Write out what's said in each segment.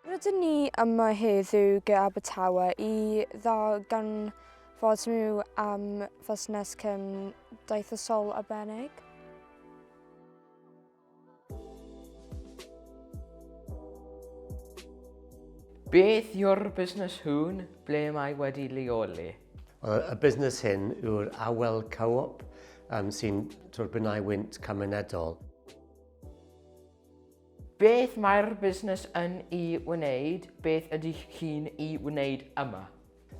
Rydyn ni yma heddiw gyda Abertawe i ddarganfod nhw am fusnes cymdeithasol arbennig. Beth yw'r busnes hwn? Ble mae wedi leoli? Y busnes hyn yw'r Awel Co-op um, sy'n twrbinau wynt cymunedol. Beth mae'r busnes yn ei wneud? Beth ydych chi'n ei wneud yma?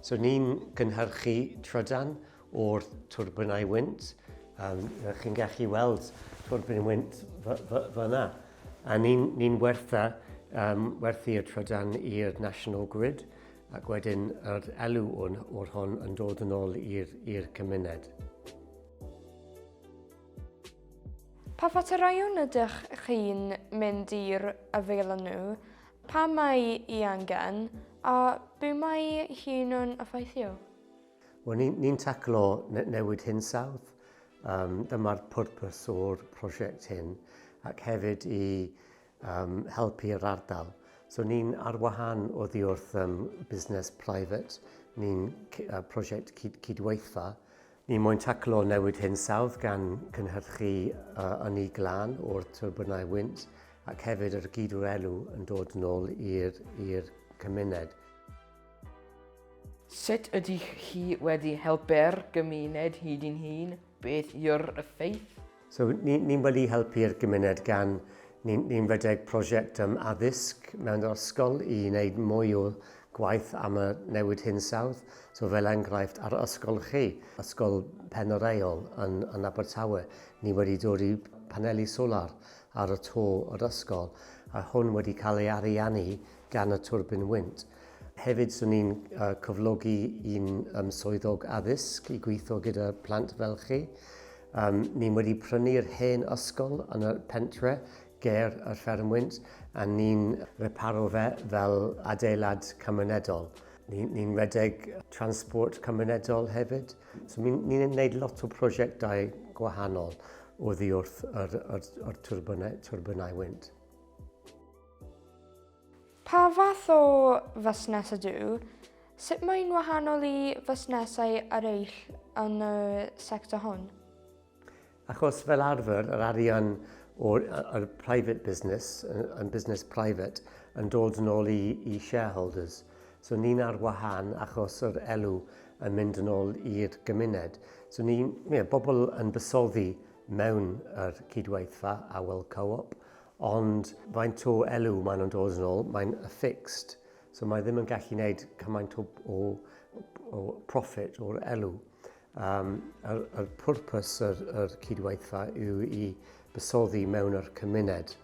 So ni'n gynhyrchu trydan o'r twrbinau wynt. Um, chi'n gallu weld twrbin wynt fyna. A ni'n ni, ni wertha, um, werthu y trydan i'r National Grid ac wedyn yr elw o'r hon yn dod yn ôl i'r cymuned. Pa faterau ydych chi'n mynd i'r afael â nhw Pam mae hi angen, a be mae hi'n yn effeithio? Wel, ni'n ni taclo ne newid hinsawdd. Um, dyma'r pwrpas o'r prosiect hyn, ac hefyd i um, helpu'r ardal. So ni'n ar wahan o ddi wrth um, busnes private, ni'n uh, prosiect cyd cydweithfa, Er mwyn taclo newid hinsawdd gan gynhyrchu ynni glân o'r tyrbynau wynt ac hefyd yr gyd-wrelw yn dod nôl i'r cymuned. Sut ydych chi wedi helpu'r gymuned hyd yn hyn? Beth yw'r effaith? So, ni'n ni wedi helpu'r gymuned gan ni'n ni redeg prosiect um, addysg mewn ysgol i wneud mwy o gwaith am y newid hinsawdd. So fel enghraifft ar ysgol chi, ysgol Pen yr Eol yn, yn Abertawe, ni wedi dod i paneli solar ar y to o'r ysgol a hwn wedi cael ei ariannu gan y twrbin wynt. Hefyd, swn i'n cyflogi un um, swyddog addysg i gweithio gyda plant fel chi. Um, ni'n wedi prynu'r hen ysgol yn y pentre ger y ffermwynt a ni'n reparo fe fel adeilad cymunedol. Ni'n ni redeg transport cymunedol hefyd. So ni'n ni gwneud lot o prosiectau gwahanol o ddiwrth yr, yr, yr turbinau, turbinau wynt. Pa fath o fusnes ydw? Sut mae'n wahanol i fusnesau eraill yn y sector hwn? Achos fel arfer, yr arian o'r, o'r private business, yn business private, yn dod yn ôl i, i shareholders. So ni'n ar wahân achos yr elw yn mynd yn ôl i'r gymuned. So ni'n, yeah, bobl yn bysoddi mewn yr cydweithfa a wel co-op, Ond faint o elw maen nhw'n dod yn ôl, mae'n fixed. So mae ddim yn gallu gwneud cymaint o, o, o profit o'r elw. Um, yr, yr pwrpas yr, yr cydweithfa yw i bysoddi mewn yr cymuned,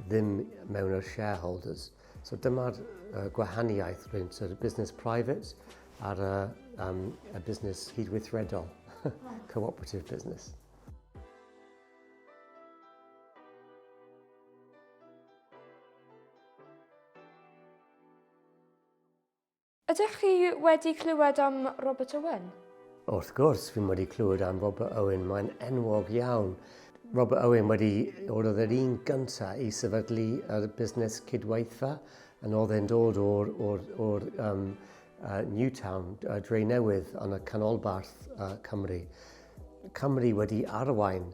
ddim mewn yr shareholders. So dyma'r uh, gwahaniaeth rhwng yr business private a'r uh, um, y business cydweithredol, cooperative business. Ydych chi wedi clywed am Robert Owen? Wrth gwrs, fi wedi clywed am Robert Owen, mae'n enwog iawn. Robert Owen wedi, oedd yr un gyntaf i sefydlu yr busnes cydweithfa, yn oedd e'n dod o'r, or, or, um, uh, Newtown, uh, Dre Newydd, yn y canolbarth uh, Cymru. Cymru wedi arwain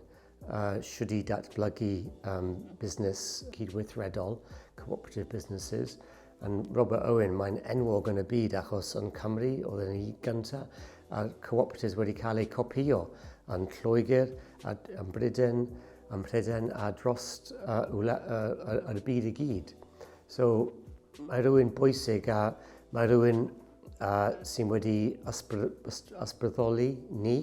uh, siwrd i datblygu um, busnes cydweithredol, cooperative businesses, yn Robert Owen, mae'n enwog yn y byd achos yn Cymru oedd yn ei gyntaf a'r cooperatives wedi cael eu copio yn Lloegr, yn Bryden, yn Pryden a dros uh, wla, uh, y byd i gyd. So mae rhywun bwysig a mae rhywun a sy'n wedi ysbrydoli ni.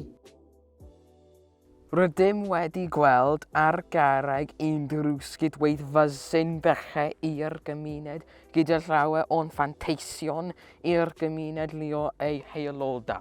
Rydym wedi gweld ar garreg unrhyw sgit waith fysin bellhe i'r gymuned gyda llawer o'n fanteision i'r gymuned lio ei haeloda.